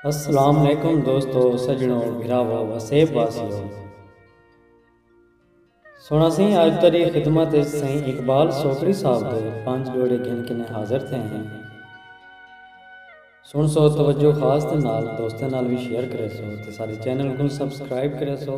السلام علیکم دوستو سجنو بھراو وسیب واسیو سونا سی آج تری خدمت سین اقبال سوکری صاحب دے پانچ جوڑے گھن کنے حاضر تھے ہیں سن سو توجہ خاص دے نال دوستے نال بھی شیئر کرے سو تے سارے چینل کو سبسکرائب کرے سو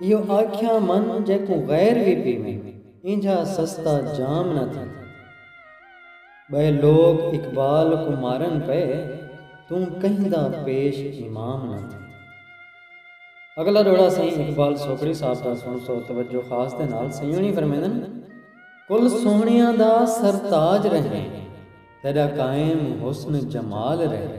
ایہو آکھیاں من جیکوں غیر وی پیویں اینجھا سستا جام نہ تھے ٻئے لوک اقبال کوں مارن پئے توں کہیں دا پیش امام نہ تھے۔ اگلا ݙوہڑا سئیں اقبال سوکڑی صاحب دا سݨسو توجہ خاص دے نال سئیوݨی فرمیندن کل سوہݨیاں دا سر تاج رہیں تیݙا قائم حسن جمال رہیں۔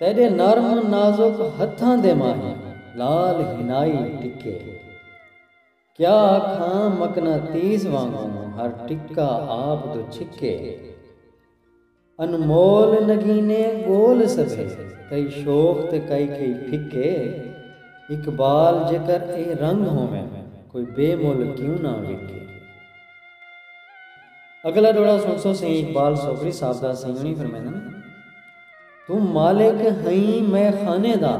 تیݙے نرم نازک ہتھاں دے ماہی لال ہنائی ٹکے کیا آکھاں مقناطیس وانگوں ہر ٹکا آپ دو چھکے انمول نگینے ڳول سبھے کئی شوخ تے کئی کئی پھکے اقبال جیکر اے رنگ ہوون کوئی بے مل کیوں نہ وکے۔ اگلا ڈوہڑا سنسو سئیں اقبال سوگری صاحب دا سئیں ہنی فرمیندن توں مالک ہئیں مئے خانے دا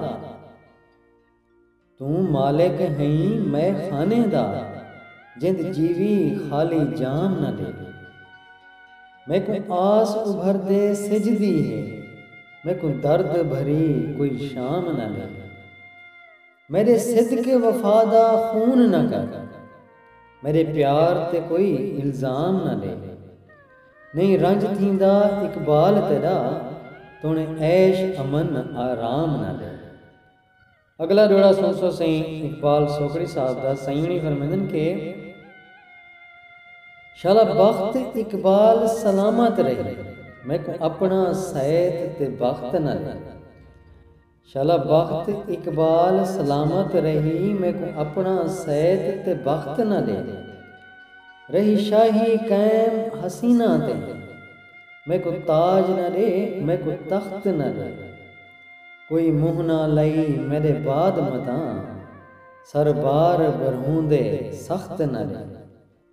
توں مالک ہئیں مئے خانے دا جند جیوی خالی جام نہ ڈے میکوں آس ابھر دے سجھ دی ہے میکوں درد بھری کوئی شام نہ ڈے۔ میݙے صدق وفا دا خون نہ کر میݙے پیار تے کوئی الزام نہ ݙے نئیں رنج تھیندا اقبال تیݙا توݨے عیش امن آرام نہ ݙے۔ اڳلا ݙوہڑا سݨسو سئیں اقبال سوکڑی صاحب دا سئیں ہوݨی فرمیندن کہ شالا بخت اقبال سلامت رہی میکوں اپݨا سئیت تے بخت نہ ݙے۔ شالا بخت اقبال سلامت رہی میکوں اپنا سید تے بخت نہ ڈے رہی شاہی قائم حسینہ تے میکوں تاج نہ ڈے میکوں تخت نہ ڈے کوئی منہ نہ لئی میڈے بعد متاں سر بار برہوندے سخت نہ ڈے۔